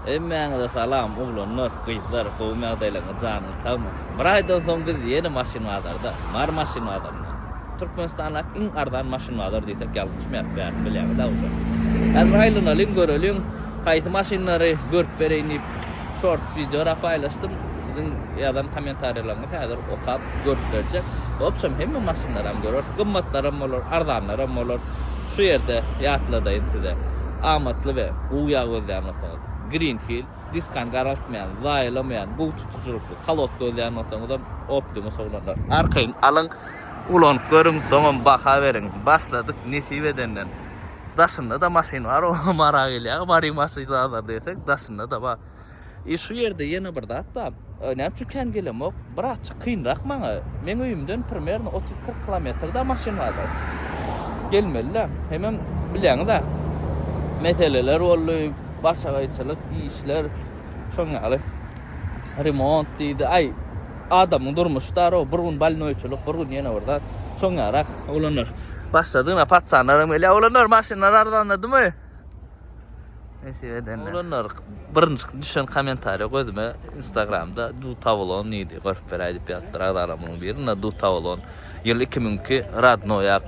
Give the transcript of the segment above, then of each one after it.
Hemmäňize salam oglanlar gyzlar gowymy ýagdaýlaryňyz janyňyz sagmy. Bir aýdan soň biz ýene maşyn bazarda, Mary maşyn bazarynda. Türkmenistandaky iň arzan maşyn bazar diýsek ýalňyşmaýarys bärim bilýäňiz däl şo. Häzir aýlanalyň göreliň haýsy maşynlary görüp bereýin diýip shorts wideora paýlaşdym. Siziň ýazan kommentariýalaryňyz häzir okap görüp berjek. Wobşem hemme maşynlaram göreris gymmatlaram bolar arzanlaram bolar. Şu ýerde ýatladaýyn size, amatly we gowy ýag gözleýän bolsaňyz, Green Hill, diskany garaltmaýan, zaýalamaýan, gowy tutujylykly kolod gözleýän bolsaňyzam, Optimus oglanlar. Arkaýyn alyň, ulanyp görüň, soňam baha beriň. Başladyk, nesip edenden. Daşynda-da maşyn bar, oňa marak elýär, baryň maşyn-a-da diýsek, daşynda-da bar. E şu ýerde ýene bir zat bar. E, näme üçin kän gelemok? Birazçyk kynrak maňa. Meň öýümden primerno 30-40 kilometrde maşyn barda. Gelmeli-de. Hemem bileňiz-ä. Meseleler boldy, başagaýçylyk işler, şoň ýaly. Remont diýdi. Aý, adamyň durmuşy dar o, bir gün bolnoýçylyk, bir gün ýene bir zat. Şoň ýarak. Oglanlar, başladyň-a, patsanlaram gelýär. Oglanlar, maşynlar arzanladymy? Nesip edenler. Oglanlar birinji düşen kommentariýa gözüme Instagramda Dutawlon diýdi. Görüp beräý diýip ýazdylar agzalarymyň biri. Ina Dutawlon. Ýyl 2002 Radnoýak.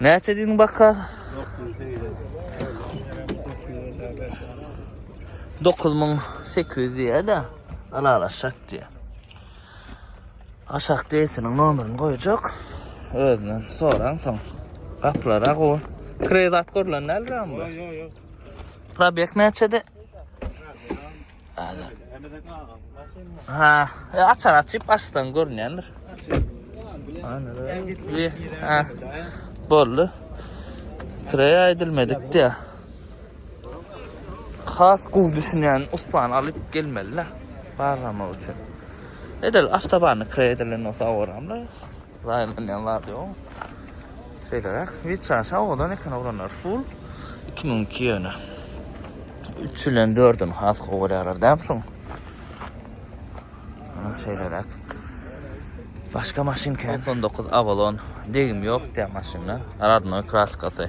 Näçe diýdiň baka? 9800 diýýär-de, alalaşak diýýär. Aşak deýsiniň nomerini goýjak. Özünden soraň soň. Gaplara go. Krezat görlen däl ram bu. Ýok, ýok. Probek näçede? Hadi. Ha, e, açar açyp açsan görünýändir. Anladım. Ha. Boldu. Krey aýdylmadyk diýä. Has gowy düşünýän ussany alyp gelmeli-le barlamak üçin. Edil awtobany kre edilen bolsa awaramly. Zaýalanýan zady ýok. Şeýleräk. Wiçan şawadan eken oglanlar. Full 2002 ýöne. 3 ile 4-ün has gowy görýärler dämi şoň. Ana şeýleräk. Başga maşyn kän. 99 Avalon. Degim ýok diýýär maşynda. Radnoý kraskasy.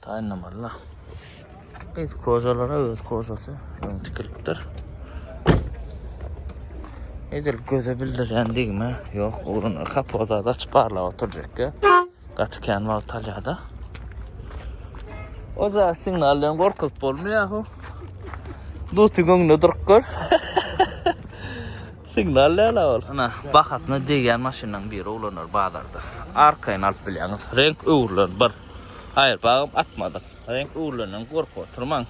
Taýynlamalyda. Gyz kozalara öz kozasy öň tikilipdir. Edil göze bildirýän degme ýok. Ugruna kapozada açyp barlap oturjakka. Gaty kän wagt alýada. O zat signaldan gorkup bolmaýahu. Duty göňde durup gör. Signal näle ol? Ana, bahasyna degýän maşynlaryň biri ulanar bazarda. Arkaýyn alyp bilýäňiz. Renk öwrülen bir. Haýyr pagym atmadyk. Reňk öwrülenden gorkup oturmaň.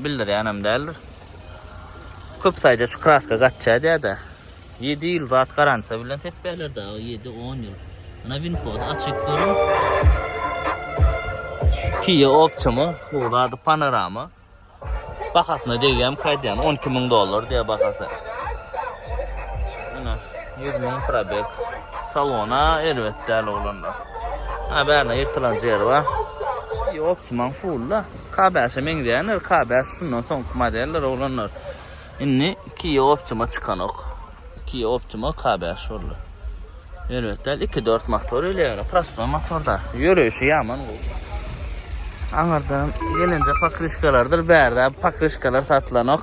Bildirýän hem däldir. Köp saýda şu kraska gaçýar diýýär-de. Ýedi ýyl zat garantiýa bilen sepýärler dagy, ýedi, on ýyl. Ana winkody açyp görüň. Kia Optima, bu zady panorama. Bahasyna degýärmik aýdýan 12 müň dollar diýýär bahasy. Ene 100 müň probek. Salona erbet däl oglanlar. Ha bärine ýyrtylan ýeri bar. Optiman full da. K5-e meňzeýänler, K5 şundan soňky modeller oglanlar. Indi Kia Optima çykanok. Kia Optima K bäş boldy. Erbet däl, iki dört motor ile ýöre, prostoý motorda. Ýöreýşi ýaman gowy. Aňyrdan gelinje pokrişkalardyr, bärde pokrişkalar satylanok.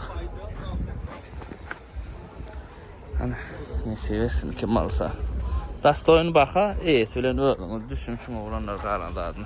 Ana, nesip etsin kim alsa. Dastoýyn baha, eýesi bilen özüňiz düşüniň şuňa bolanlar galan zadyny.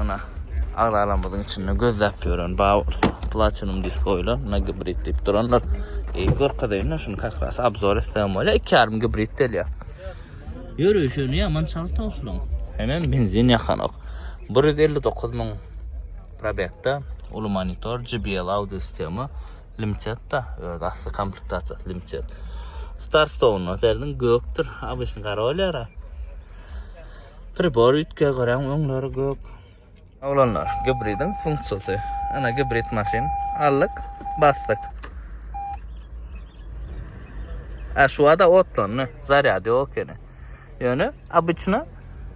Ana, agzalarymyzyň içinde gözläp ýören Bowers, Platinum disk goýlan, na gibrid diýip duranlar. Eý, görkezeýin-le şuny kakras abzor etsem bolýa, iki ýarym gibrid delýa. Ýörüşi ýöne ýaman çalt oşlaň. Hemem benzin ýakanok. Bir ýüz elli dokuz müň probekda, uly monitor, JBL audio sistema, limtetda, öz asly komplektasiýasy limtet. Starstone-a serediň, gökdür, ABŞ-nyň gara bolýar-a. Pribor ütge garaň öňleri gök. Oglanlar gibridiň funksiýasy. Ana gibrid maşyn. Aldyk, basdyk. Ä şu ada otlandy. Zarýad ýok ekeni. Ýöne obyçna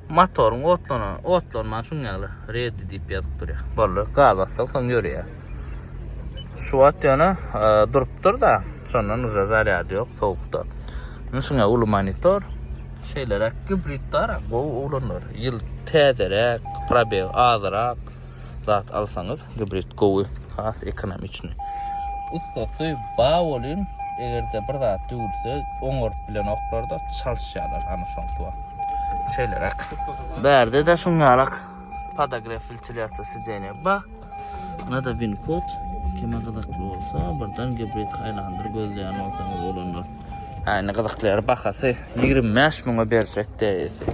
motoryň otlanan, otlanman şuň ýaly redi diýip ýazyp durýar. Boldy, gaz basdyk, soň ýörýär. Şu wagt ýöne durupdyr da, şondan uza zarýad ýok, sowukda. Indi şuňa uly monitor, şeýleräk gibridler gowy ulanlar. Ýyl täzeräk, probeg azyrak zat alsaňyz, gibrid gowy, has ekonomiçni. Ussasy bar bolýun, eger-de bir zat döwülse, oňaryp bilenoklar-da, çalyşýarlar ana şonsuwa. Şeýleräk. Bärde-de şuň ýalak podogref, wentilýasiýa sideniýa bar. Nada bin kod kime gyzykly bolsa birden gibrid haýlandyr gözleýän bolsaňyz bolandyr. Äni gyzykly ýeri bahasy 25 müňe berjek deýesi.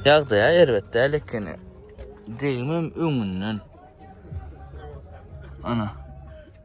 Ýagdaýa erbet däl ekeni. Degmem öňünden. Ana.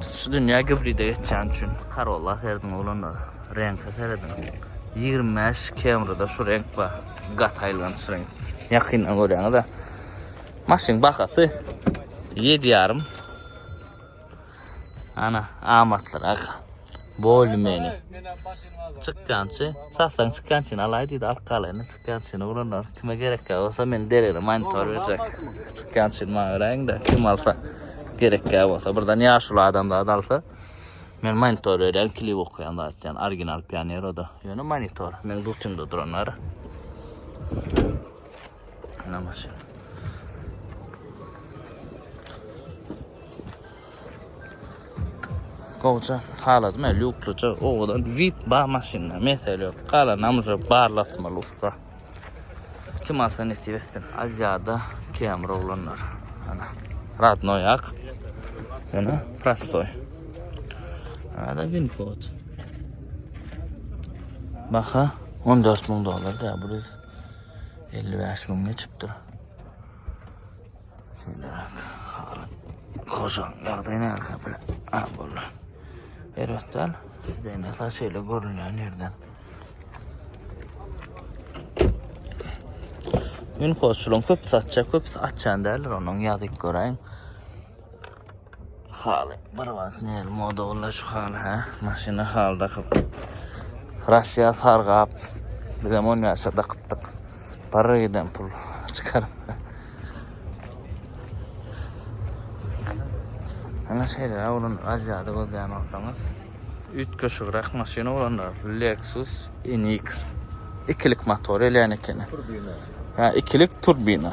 Şu dünýä gibride geçýän üçin Corolla serediň oglanlar. Reňke serediň. 25 Camry-da şu reňk bar. Gaty aýylganç reňk. Ýakyndan görýäňiz-ä. Maşynyň bahasy 7,5. Ana, amatlyrak. Boldy meni. Çykgançy. Satsaň çykgançyny alaý diýdi. Alyp galaýyny çykgançyny ulanlar. Kime gerekkä bolsa men derere monitor berjek. Çykgançyny maňa beräýiňde. Kim alsa gerekkä bolsa. Birden ýaşuly adam zat alsa. Men monitor berýän klip okaýan zat ýan. Original pioner oda. Ýöne monitor. Men butymda duranlar. Namaşyn. Gowja halaty me lýuklyja owadan wid ba maşynda mesele ýok. Galan amja barlatmaly ussa. Kim alsa nesip etsin. Aziada kemr oglanlar. Ana. Radnoy ak. Ana prostoy. Ada winfot. Baha 14 ming dolar da bu 55 ming geçipdir. Şundarak halat. Koşan ýagdaýy näka bile. Ha boldy. Erbetden sizden näka şeýle görünýän ýerden. Gün koşulan köp satça köp açan däl onuň ýazyk göräýin. Haly bir wagt ne moda boldy şu haly ha. Maşyna haly dakyp. Russiýa sargap. Biz hem on ýaşa dakypdyk. Para giden pul çykaryp. Ana şeýle awrun Aziýada gözleýän bolsaňyz. Üýtgeşigräk maşyna bolanlar Lexus NX. Ikilik motor elýän ekeni. Turbina. Ha, ikilik turbina.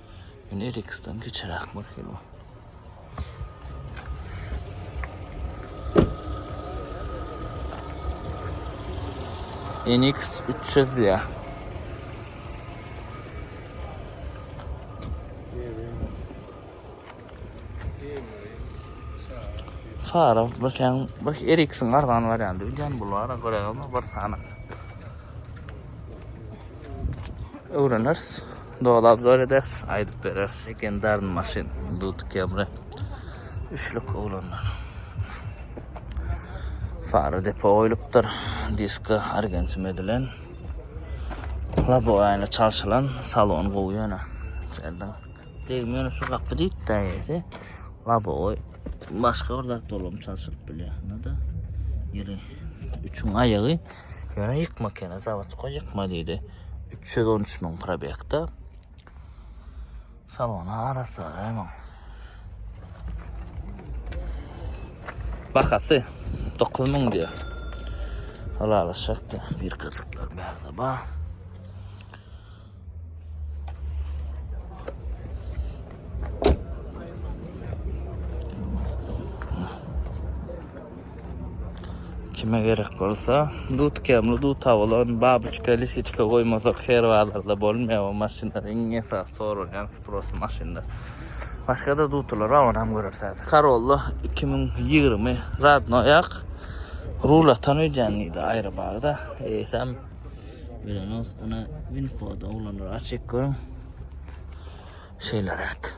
Men Eriksdan kiçiräk maşynam. NX 300 ya. Fara bu sen bak Ericsson arzan var yani bilgen bulara göre ama bir sana. Öğreniriz. Doly obzor ederiz, aýdyp bereris. Legendarny maşyn, Dut Kemre. Üçlük oglanlar. Fara depo goýlupdyr. Diska argentim edilen. Laboýany çalşylan, salon gowy ýöne. Şerden. Degmiýän şu gapy diýipdi ýese. Laboý başga bir zat dolam çalşylyp bilýär. Nada? Ýeri üçüň aýagy. Ýöne ýykma kene, zawod goý ýykma diýdi. iki ýüz on üç müň probekde. Salona arassa däýmem. Bahasy 9 müň diýär. Halalaşakda bir kazaklar bärde bar. Kime gerek bolsa, dut kemli duta bolan babuçka, lisiçka goýmasak her bazarda bolmaýar bu maşynlar iň esasy soralýan sprosu maşynlar. Başgada dutular bar onam görers häzir. Karolla iki müň ýigrimi radnoýak rul atan öýdýän diýdi aýry bagda eýsem bilenok ony winfoda oglanlar açyk görüň. Şeýleräk.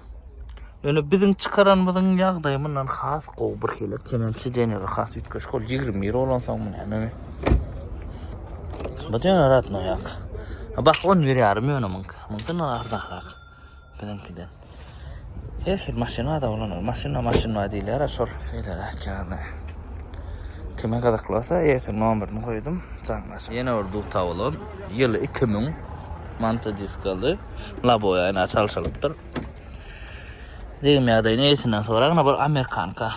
Ýöne biziň çykaranymyzyň ýagdaýy mundan has gowy bir hili. Kemem sidenýleri has üýtgeşik ol 21 bolansoň mundan. Bu diýen ratno ýak. Bak 11 ýarym ýöne muňky. Muňky nä arzanrak. Biziňkiden. Hesir maşyna da bolan, maşyna maşyna diýilýär, şol şeýleräk ýagny. Kime gyzykly bolsa, ýesir nomerini goýdum, jaňlaşyň. Ýene bir duta bolan, ýyly 2000. mantodiskaly laboýaýna çalşylypdyr. Degim ýagdaýy neýsinden soragna bir amerikanka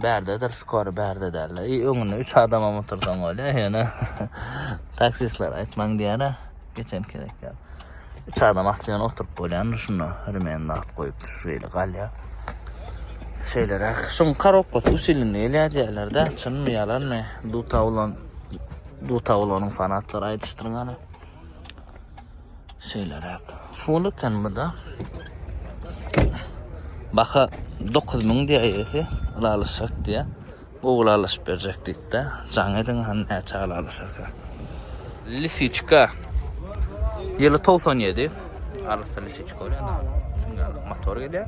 bärdedir, skor bärde derler. I öňüne 3 adamam otursaň bolýar, ýöne taksistler aýtmaň diýýär-ä, geçen gezek ýaly. 3 adam asly ýöne oturyp bolýandyr şunda, remen nagt goýupdyr, şu ýeri galýar. Şeýleräk. Şuň korobkasy üç ýylynda gelýär diýýärler-dä, çynmy, ýalanmy? Dutawlan, Dutawlanyň fanatlary aýdyşdyr gana. Şeýleräk. Full eken bu da. Baka 9000 diýä eýesi, alalyşak diýä. Gowul alyşyp berjek diýip-de, jaň ediň han näçe alalyşarka. Lisiçka. Ýyly 97. Arassa lisiçka bolýar da. Çünki motor gelýär.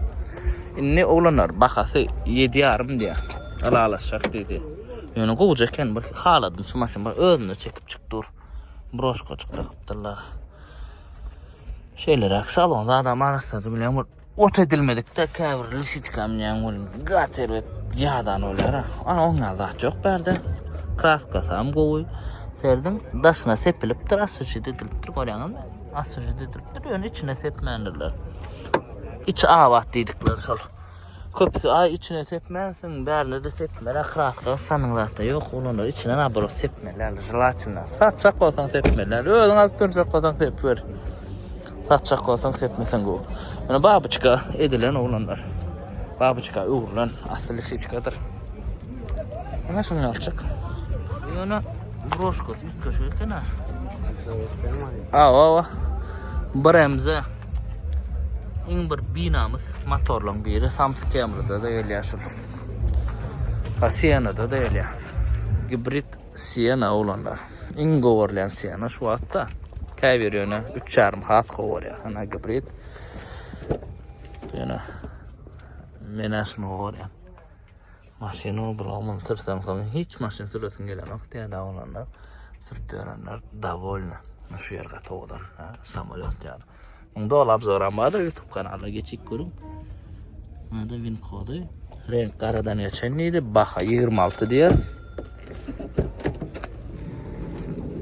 Indi oglanlar bahasy 7,5 diýär. Alalyşak diýdi. Ýöne gowja eken bir haladym şu maşyn bir özünde çekip çyk dur. broşkaçyk dakypdyrlar. Şeýleräk salon zada marassady bilen bir ot edilmedikde käbir lisiçka minen bol gat erbet ýadan bolýar. Ana oňa zat ýok bärde. Kraskasy hem gowy. Serdiň daşyna sepilipdir, asujit edilipdir, görýäňizmi? Asujit edilipdir, ýöne içine sepmändirler. Içi abat diýdikleri şol. Köpüsi aý içine sepmänsiň bärine-de sepmeli kraska ysanyň zatda ýok olanlar içine nabrot sepmeli ýaly jelatina satjak bolsaň sepmeli ýaly özüň alyp durjak bolsaň sepip gör satjak bolsaň sepmeseň gowy ýöne babyçka edilen oglanlar babyçka öwrülen asly lisiçkadyr ýöne şuny alçyk ýöne broşkasy üýtgeşik eken-ä awa awa bremze Iň bir binamys motorlaryň biri Samsung Camry-da da gelýär şul. Ha Sienna-da da gelýär. Gibrid Sienna oglanlar. Iň gowarlan Sienna şu wagtda. Käbir ýöne 3,5 has gowarýar. Ana gibrid. Ýöne men aşyny gowarýan. Maşyny obalaman sürseňsoň hiç maşyn süresiň gelenok täze bolanda sürüp ýörenler dowolny. Şu ýer gaty owadan, samolýot ýaly. Munda ol obzoram bardyr YouTube kanalda geçip görüň. Munda win kody. Renk garadan geçen diýdi, baha 26 diýer.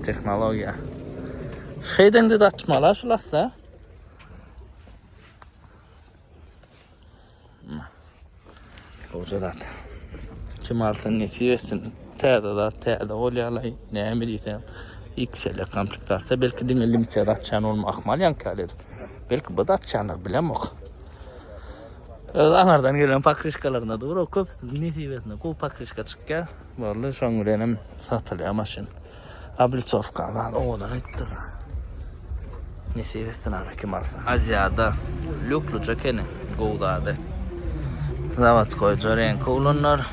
Tehnologiýa. Şeýden-de açmalar şulassa. Hoca zat. Kim alsın nesip etsin. Täze zat, täze ol ýalaý. Näme diýsem. XL komplektasiýa belki diňe limitiýa atýan bolma ahmal ýankýaly. Belki bu atýanlar bilemok. Öz aňardan gelen pakrişkalarynda dur, köp nesip etsin. Gowy pakrişka çykýar. Boldy, şoň bilen hem satylýar maşyn. Obliçowka bar, owadan aýtdylar. Nesip etsin aga kim alsa. Aziada lukluja ekeni, gowy zady. Zawodskoý Jorenko ulanlar.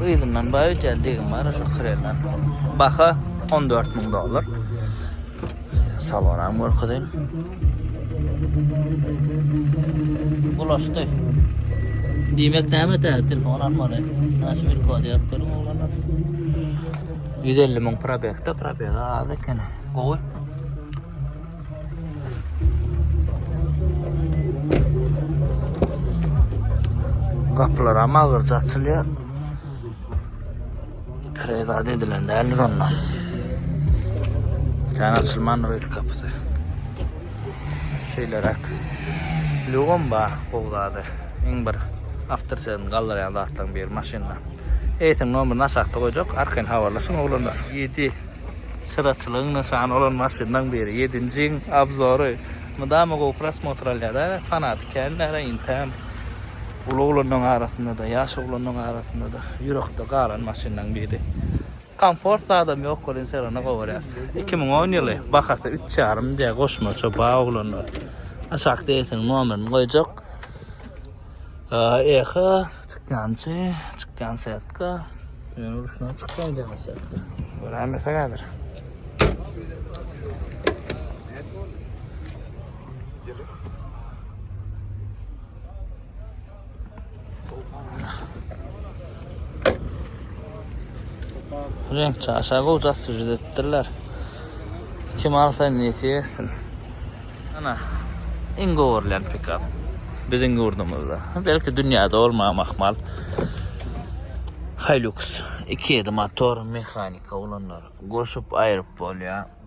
Yzyndan baý öýdýän degim bar, şo krelden. Baha 14 müň dollar. Salonam görkezi. Bulaşdy. Diýmek näme tä telefon almaly. Ana şu bir kod ýazyp görüň oglanlar. 150 müň probekde probega az eken. Gowy. Gapylar ama agyrca açylýar. Kire zat edilen däldir onda. Sen açylman öýt kapysy. Şeýleräk. Lugum bar, gowzadyr. Iň bir awtor sözüni galdyrýan zatlaryň biri maşynda. Eýsem nomerini aşakda goýjak, arkaýyn habarlaşyň oglanlar. 7. Çyraçylygyň nyşany bolan maşynlaryň biri. Ýedinjiň obzory. Mydama gowy prosmotr alýar-da, fanaty kän däl-ä intäm. Uly oglanlaryň arasynda-da, ýaş oglanlaryň arasynda-da ýürekde galan maşynlaryň biri. Komfort zadam ýok welin sergini gowarýas. Iki müň on ýyly, bahasy üç ýarym diýýär goşmaça ba oglanlar. Aşak DS-niň nomerini goýjak. EH, çykýançy, çykýan setka. Ýöne ruşna çykýan däl setka. Göräýmesek häzir. Renk çaşa goja süjüd ettirler. Kim alsa niyeti etsin. Ana, in govurlen pikap. Bizim yurdumuzda. Belki dünyada olma mahmal. Hilux. 2.7 motor mehanika olanlar. Goşup ayırıp bol ya.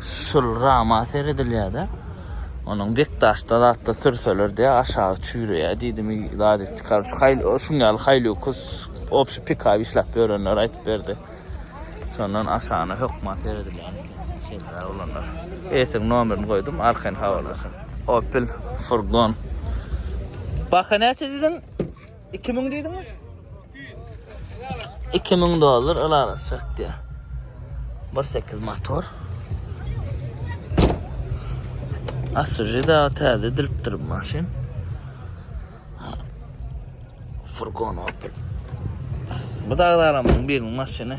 Şul rama seredilýär-de. Onuň bekdaşda zatda sürseler diýä aşagy çüýreýär diýdimi zat etdi. Karus haýl şuň ýaly haýlukus obşi pikaw işläp ýörenler aýdyp berdi. Şondan aşagyna hökma seredilýär. Şeýle oglanlar. Esiň nomerini goýdum, arkaýyn habarlaşyň. Opel furgon. Baha näçe diýdiň? Iki müň diýdiň mi? Iki müň dollar alara sökdi. Bir sekiz motor. Asıcı da täze edilipdir bu maşyn. Furgon Opel. Bu da adamın birinin maşını.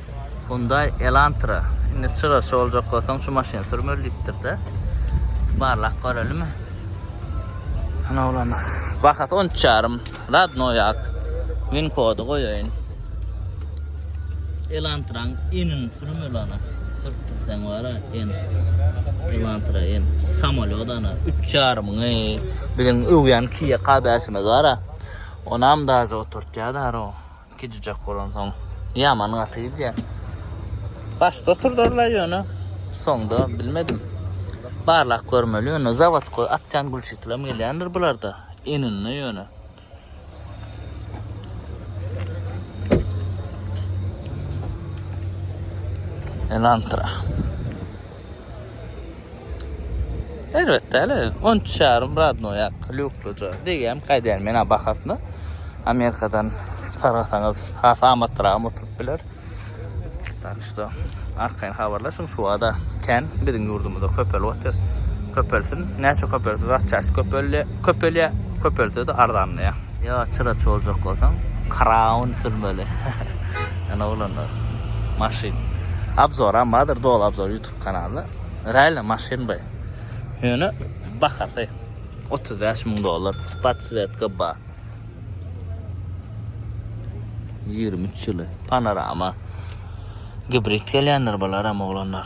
Hyundai Elantra. Indi çyraşy boljak bolsaň şu maşyny sürmeli diýipdir-de. Barlap görelimi? Ana oglana. Bahasy 13 ýarym. Radnoý ak. Win kody goýaýyn. Elantraň enin sürmeli ana. Sürtdür sen wara en. Elantra en. Samolyot ana. 3 ýarymyň eý. Biziň öwýän Kia K5-imiz bar-a. Onam daže oturtýadar o. Gijijek bolansoň ýaman gaty gidýär. Başda oturdyrlar ýöne soňda bilmedim. Barlap görmeli ýöne zawodkoý atýan gülşitilam gelýändir bularda ininde ýöne. Elantra. Erbet däl el. 13 ýarym radno ýak. Lýukluja. Degýäm gaýdýan men bahasna. Amerikadan sargasaňyz has amatlyraga oturyp biler. Tak şda arkaýyn habarlaşyň şubada kän biziň ýurdumyzda köpelip otyr. Köpelsin. Näçe köpelse zatçasy köpelýä. Köpelýä. Köpelse de arzanlaýa. Ýa çyraç boljak bolsaň kraun sürmeli Ýöne oglanlar maşyn Abzoram bardyr doly abzor ýutub kanalda Realno maşyn by Ýöne bahasy otuz bäş müň dollar podswetka ba ýigrimi üç ýyly panorama Gibrid gelýändir bularam oglanlar.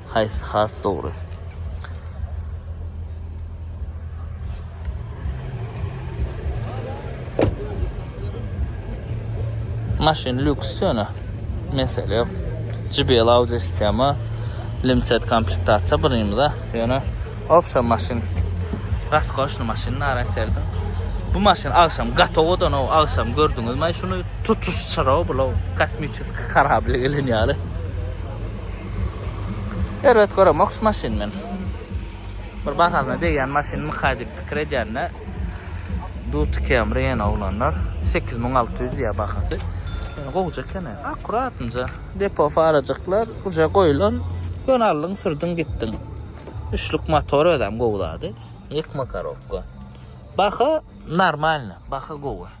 Haýsy has dogry? Maşyn lüks ýöne mesele ýok. JBL audio sistema limited komplektasiýa birinimize ýöne opsiýa maşyn raskoşny maşyn nara serdim. Bu maşyn agşam gatowodan o agşam gördüňizmi şuny tutuş çyraw bulaw kosmiçeski karabli gelen ýaly. Erbet göremok şu maşyny men. Bir bahasyna degýän maşyn myka diýip pikir edýän-de. Duty Camry ýene oglanlar. 8600 diýýär bahasy. Ýöne gowja eken-ä. Akuratynja depo farajyklar uje goýlan. Ýöne aldyň, sürdüň, gitdiň. Üçlük motor özem gowy zady. Ýykma korobka. Baha normalny, baha gowy.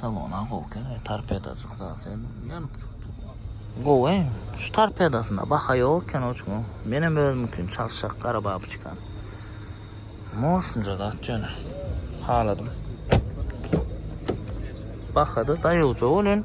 Salona gowy kene torpedajyk zat ýanyp çykdy. Gowy. Şu torpedasynda baha ýok eken oçuň. Menem özümikini çalşak gara babuçkan. Moşunja zat ýöne. Haladym. Bahada daýawja welin.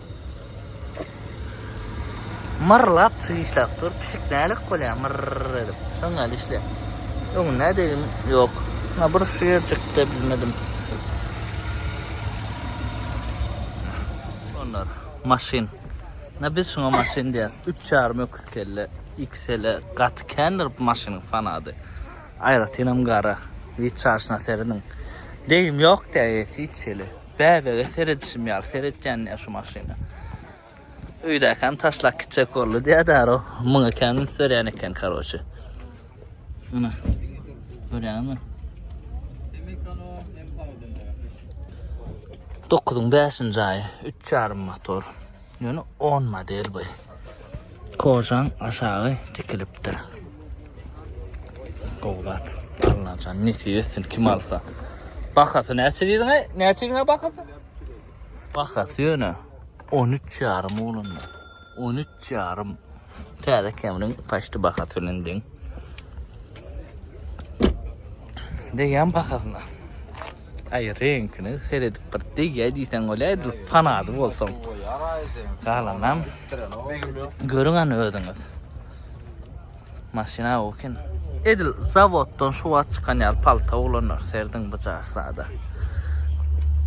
Myrlap pişik işläp dur. Pişik nälik bolýar myrr edip. Şoň ýaly işleýär. Öňüne degim ýok. Ha bir şu ýerjikde bilmedim. Şonlar maşyn. Na biz şuňa maşyn diýýäs. Üç ýarym öküz kelle. XL-e gaty kändir bu maşynyň fanady. Aýratynam gara. Witçaşyna serediň. Degim ýok-da eýesi hiç hili. Bäbege seredişim ýaly seretýän ýa şu maşyna. Öýdäkäm taşlak gitjek boldy diýä däro. Muňa käm üns berýän eken karoçe. Ana. Görýäňmi? Demekano hem sawdynda. 9-yň 5-nji aýy, 3 ýarym motor. Ýöne on model bu. Kožan aşagy tikilipdir. Gowy zat. Allan jan nesip etsin kim alsa. Bahasy näçe diýdiňe? Näçe diýdiňe bahasy? Bahasy ýöne 13 ýarym oglanda. 13 ýarym. Täze Camry-nyň paçdy bahasy bilen deň. Degýän bahasyna. Aý, reňkini seredip bir degýä diýseň bolýardy, fanady bolsaň. Galanam görüň an özüňiz. Maşyna okin. Edil zawoddan şu wagt çykan ýaly palta oglanlar serdiň bu jas. Sada.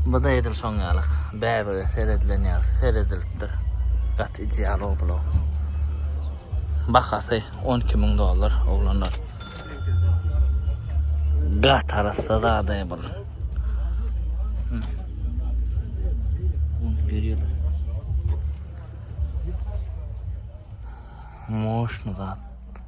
Bu da edil şoň ýalyk. Bäbege seredilen ýaly seredilipdir. Gaty ideal oblo. Bahasy on iki müň dollar oglanlar. Gaty arassa zada bul. Moşny zat.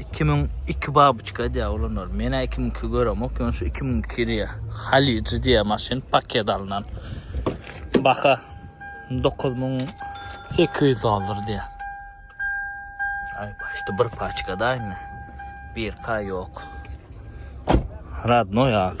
Iki müň iki babuçka diýýär olanlar. Menä iki müň iki göremok, ýöne şu iki müň iki diýýär. Halyjy diýýär maşyn paket alnan. Baha dokuz müň sekiz ýüz dollar diýýär. Aý, başda bir paçkada indi. Birka ýok. Radnoý ak.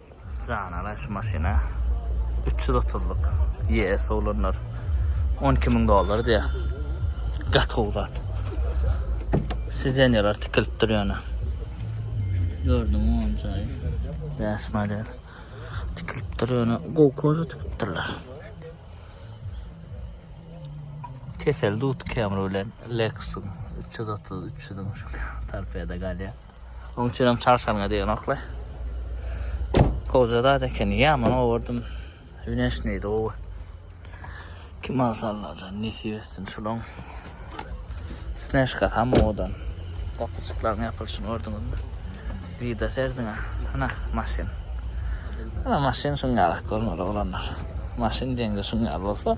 Janala şu maşyna 330-lyk YS olanlar 12000 dollar diýýär. Gaty gowy zat. Sizenýalar tikilip dur ýöne. Gördüm on jaýy. Ýaş model. Tikilip dur ýöne gowy koza tikip durlar. Kesel dut kemri bilen Lexus 330 300 şu tarpeda galýar. Oň üçinem çalşanyňa degnoklay. Goja zat eken, ýaman gowurdym. Wneşneý gowy. Kim alsa Allajan nesip etsin şulaň. Sneşka tam owadan. Gapyjyklaryň ýapylyşyny gördüňizmi? Vida serdiňä. Ana maşyn. Ana maşyn şuň ýalak görner oglanlar. Maşyn deňde şuň ýaly bolsa.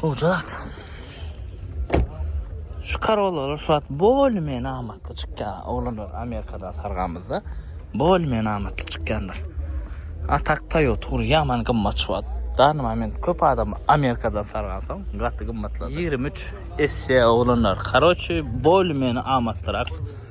Sujat. Şu karollar şu at bol men amatly çykýar. Oglanlar Amerikada sargamyzda bol men amatly çykýanlar. Atak tayo tur yaman gymmat şu at. Dar moment köp adam Amerikada sargansa gaty gymmatladı. 23 esse oglanlar. Karoçi bol men amatlyrak.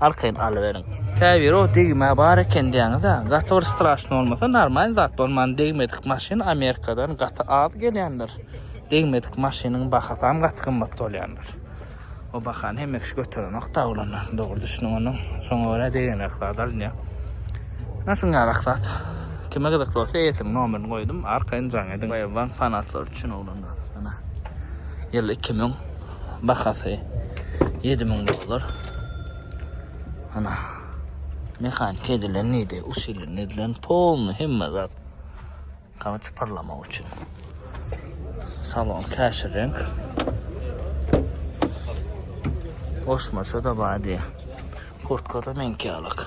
Arkaýyn alyberiň. Käbiri o degme bar eken diýýäňizä gaty bir straşny bolmasa normalny zat bolman degmedik maşyn amerikadan gaty az gelýändir degmedik maşynyň bahasam gaty gymmat bolýandyr o bahany hemme kişi göterenok daglanlar dogry düşüniň onuň şoňa görä degenrak zat alynýa naşyngarak zat kime gyzykly bolsa eýesiniň nomerini goýdum arkaýyn jaň ediň baýaban fanatlar üçin oglanlar ana ýyl 2000 Bahasy 7000 dollar. Ana. Mehanik edilen neydi? Usulün edilen polny hemme zat. Kamaç parlamak için. Salon kaşir renk. Koşmaşa da badi. Kurtkara menki alak.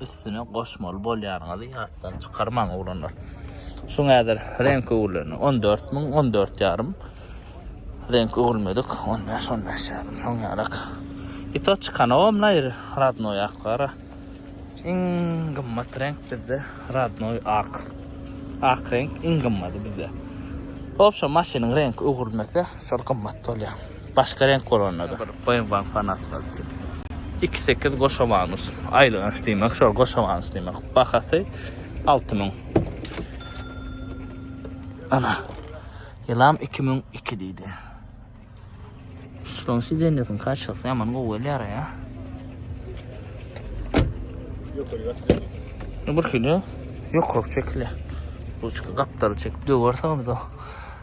üstüne goşmaly bolýanyňyzy ýatdan çykarmaň oglanlar. Şuň häzir renk öwürleni 14 müň, 14 ýarym. Renk öwürmedik 15, 15 ýarym. Şoň ýarak. I to çykanogam naýr radnoý ak gara. Iň gymmat renk bizde radnoý ak. Ak renk iň gymmady bizde. Hop şo maşynyň renk öwürmese şol gymmat bolýar. Başga reňk bolanda-da. Bir Boýungan fanatlary üçin. Iki sekiz goşamanus. Aýlanç diýmek şol goşamanus diýmek. Bahasy alty müň. Ana. Ýylam iki müň iki diýdi. Şunuň sidenýesiniň kaşasy ýaman gowy gelýär ýa. Ýokary Bir kilo ýokaryk çekilýär. Ruçka gapdary çekip döwerseňiz-de.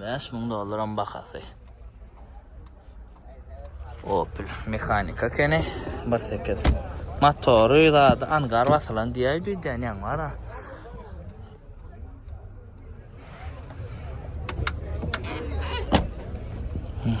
Bäş müň dollaram bahasy. Opel mehanika kene. Bir sekiz. Motory zady angar basylan diýäý diýýän ýaň var ha. Hmm.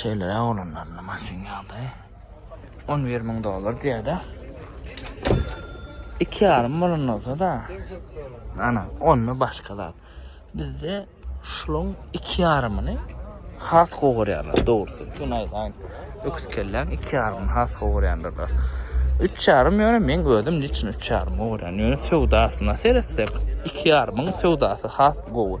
Şeýleräk olanlarynda maşyn ýagdaýy on bir müň dollar diýýärdi. Iki ýarym bolan bolsa-da, ana, onda başga zat. Bizde şulaň iki ýarymyny has gowy görýärler, dogrusy. Şuny aýdaýyn. Öküz kelläň iki ýarymyny has gowy görýändirler. Üç ýarym ýöne men özüm niçin üç ýarymy görýän? Ýöne söwdasyna seretsek, iki ýarymyň söwdasy has gowy.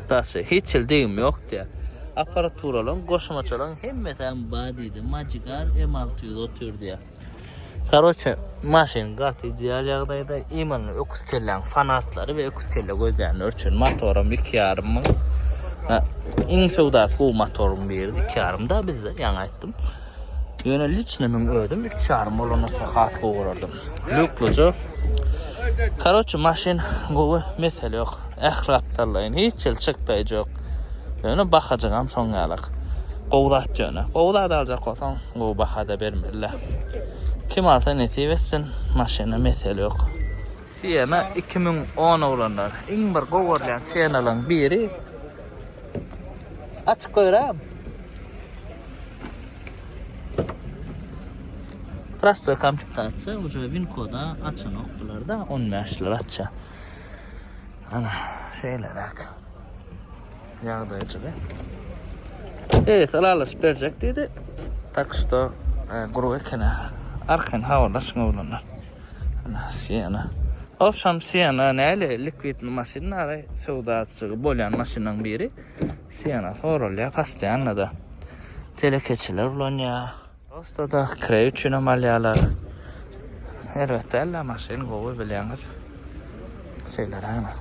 Daşy, hiç hili degim ýok diýýär. Apparaturalyň, goşmaçalaryň hemmesem bar diýdi. Magigar M alty ýüz otuz bir diýýär. Karoçe, maşyn gaty ideal ýagdaýda. Imany öküz kelläň fanatlary we öküz kelle gözlänler üçin motoram iki ýarym müň. Iň söwdasy gowy motoryň biri, iki ýarym da bizde, ýaňy aýtdym. Ýöne liçnimiň özüm üç ýarym bolanysa has gowy görerdim. Lukluja. Karoçi maşyn gowy mesele ýok. Ähli gapdallaýyn hiç ýyl çyk daýjy ýok. Ýöne bahajygam şoň ýalak. Gowy zat ýöne. Gowy zat aljak bolsaň gowy bahada bermeliler. Kim alsa nesip etsin maşyna mesele ýok. Siena iki müň on oglanlar. Iň bir gowy görýän Sienalaň biri. Açyk goýram. Prostoý komplektatsiýa, uje win koda açanok bularda, on bäşler açja. Ana, şeýleräk. Ýagdaýjygy. Eýesi ylalaşyp berjek diýdi. Tak şto, e, guruw ekeni. Arkaýyn habarlaşyň oglanlar. Ana Siena. Ogşam Siena näle likwidni maşynlary söwdaçygy bolýan maşynyň biri. Siena sorulýar pastianada. Telekeçiler ulanýar. Prosta-da kireý üçinem alýarlar. Erbet däl-de maşyn gowy bilýäňiz. Şeýlerägine.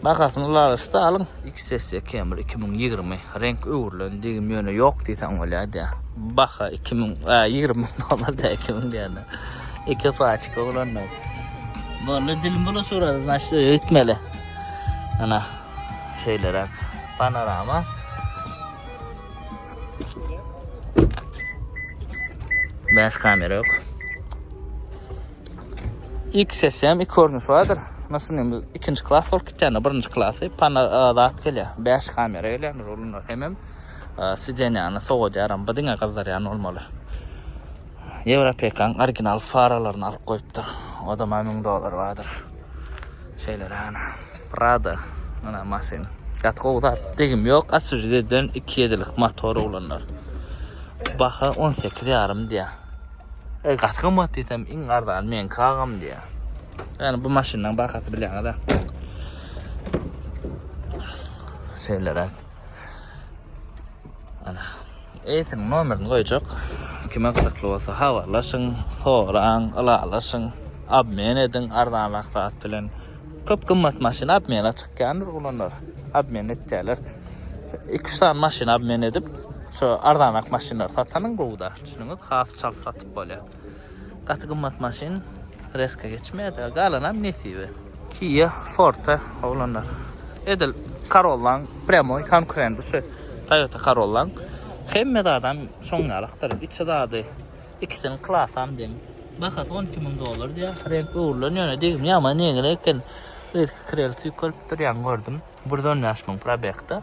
Bahasyny ulalyşda alyň. XS Camry 2020 reňk öwrülen degim ýöne ýok diýseň bolýardy. Baha 2000 a 20 müň dollar dä 2000 diýende. Iki paçka oglanlar. Boldy dilim bula surady znaçt öýtmeli. Ana şeýleräk panorama. Bäş kamera ýok. XSM iki görnüş bardyr. Muna şunuň bir ikinji klas bolup gitýändir, birinji klasy pana zat gelýär. 5 kamera gelýändir olar hemem sidenýany sowadýaram. Bu diňe gyzdyrýan bolmaly. Ýewropekaň original faralaryny alyp goýupdyr. Odam hem 1000 dollar bardyr. Şeýleräne. Prado mana maşyn. Gaty gowy zat. Degim ýok. Asujiden 2 ýedilik motor oglanlar. Baha 18 ýarym diýýär. E, gaty gymmat diýsem, iň arzany meňki agam diýýär. Ýani bu maşynyň bahasy bilýäňiz-ä. Şeýleräk. Ana. Eýsin nomerini goýjak. Kime gyzykly bolsa habarlaşyň, soraň, ylalaşyň, obmen ediň arzanrak zat bilen. Köp gymmat maşyn obmena çykýandyr olanlar. Obmen etýärler. 2-3 sany maşyn obmen edip, şu arzanrak maşynlary satanyň gowuda. Düşünüňiz has çalt satyp bolýar. Gaty gymmat maşyn reska geçmeýär. Galanam nesibe. Kia Forte oglanlar. Edil Corolla-nyň prýamoý konkurenti şu Toyota Corolla-nyň. Hemme zadam şoň ýalykdyr. Içi zady ikisiniň klasam deň. Bahasy on iki müň dollar diýýär. Reňk öwrülen ýöne degimi ýaman ýeňil eken. Yzky krel süýkelip durýan gördüm. Bir ýüz on bäş müň probegda.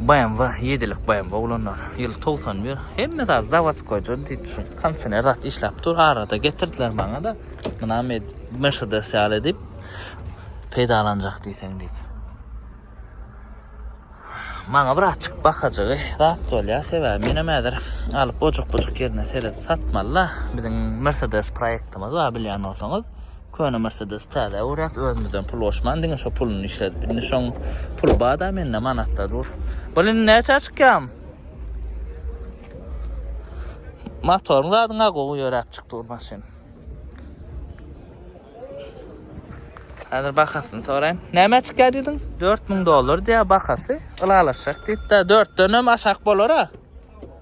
BMW ýedilik BMW oglanlar ýyl togsan bir hemme zat zawodskoýja diýip şu konsener zat işläp dur arada getirdiler maňa-da muna Mercedes ýaly diýip peýdalanjak diýseň diýip. Maňa birazçyk bakajygy zat bolýar sebäbi menem häzir alyp ojak-bujak ýerine seredip satmaly-da biziň Mercedes proýektimiz bar bilýän bolsaňyz. Köne Mersedesi täzä öwräs özümizden pul goşman diňe şo puluny işledip indi şoň puly bada mende manatda dur. Bul indi näçä çykýam? Motoryň zadyňa gowy ýöräp çyk dur maşyn. Häzir bahasyny soraýyn. Näme çykýa diýdiň? 4000 dollar diýýä bahasy. Ylalaşjak diýipdä 4 denem aşak bolara.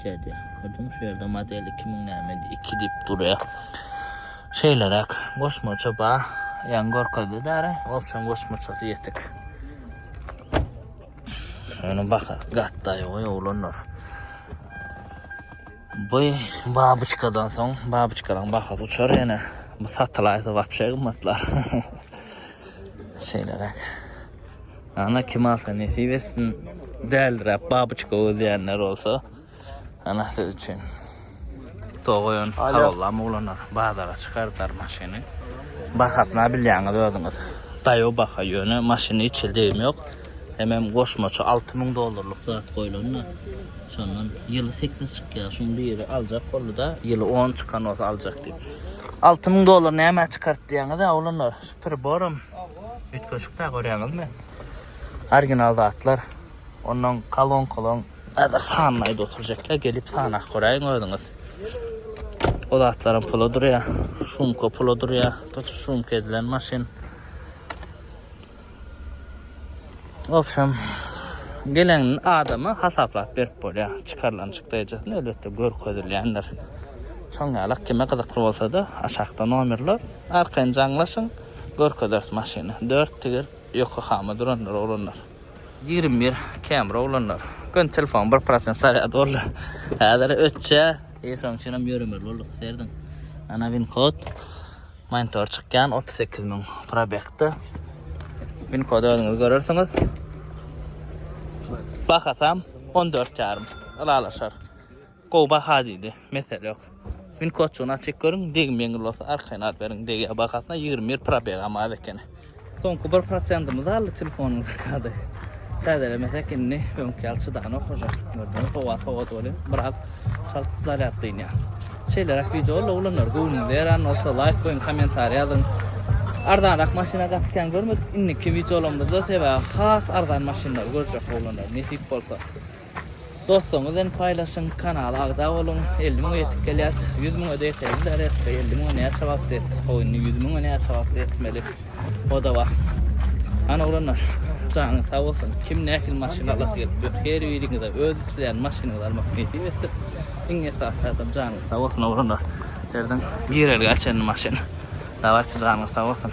Dede, ödüň şu ýerde model iki müň näme iki diýip durýa. Şeýleräk goşmaça ba, ýaňy görkezdi däri, obçam goşmaçasy ýetik. Ýöne baha gatdaý goý oglanlar. Bu babyçkadan soň babyçkalaň bahasy uçar ýene. Bu satylaýsa wapşe gymmatlar. Şeýleräk. Ana kim alsa nesip etsin. Däldiräp babyçka göz diýenler bolsa ana siz üçin. Tog goýan karollam oglanlar bazara çykardar maşyny. Bahasyna bilýäňiz özüňiz. Daýaw baha ýöne maşyny hiç hili degimi ýok. Hemem goşmaça alty müň dollarlyk zat goýlanda şondan ýyly sekiz çykýar. Şuny biri aljak boldy-da ýyly on çykan bolsa aljak diýip. Alty müň dollar nämä çykart diýýäňiz-ä oglanlar. Priboram üýtgeşik dä görýäňizmi? Original zatlar. Ondan kalonkalaň häzir sanyny aýdyp oturjaklar gelip sanap göräýiň özüňiz. O zatlaram pula durýa. Şumka pula durýa. Tutuş şumka edilen maşyn. Wobşem gelen adama hasaplap berip bolýa. Çykarylan çykdaýjasyn elbetde görkezilýändir. Şoň ýalak kime gyzykly bolsada aşakda nomerler. Arkaýyn jaňlaşyň, görkezeris maşyny. Dört tigir Ýokahama durandyr, oglanlar. Ýigrimi bir Camry oglanlar. Göni telefonyň bir prosent zarýady boldy. Häzir ötjä. Eý şonuň üçinem ýöremez bolduk. Serediň. Ana win kod. Monitor çykýan otuz sekiz müň probegda. Win kody özüňiz görersiňiz. Bahasam on dört ýarym. Ylalaşar. Gowy baha diýdi. Mesele ýok. Win kodçugyny açyp görüň, degim ýeňil bolsa arkaýyn alyp beriň. Degýär bahasyna ýigrimi bir probegam az ekeni. Soňky bir prosentimiz galdy telefonyň zakady. Täzelemesek indi öňki ýaly çydanok oja. Gördüňiz, howa sowady welin biraz çalt zarýad dynýar. Şeýleräk wideolar oglanlar göwnüňize ýaran bolsa laýk goýuň, kommentariý ýazyň. Arzanrak maşyna gaty kän görmedik indiki wideolarymyzda sebäbi has arzan maşynlary görjek oglanlar nesip bolsa. Dostuňyz bilen paýlaşyň, kanala agza boluň, elli müňe ýetip gelýäs, ýüz müňe-de ýeteli bileris, we elli müňe näçe wagtda ýetdik, how indi ýüz müňe näçe wagtda ýetmeli, o-da bar. Hany oglanlar, janyňyz sag bolsun, kim nähili maşyn alasy gelipdir, her biriňize öz isleýän maşynyňyzy almak nesip etsin, iň esasy zadam janyňyz sag bolsun oglanlar, herdan girelgä çenli maşyn, dawaýçy janyňyz sag bolsun.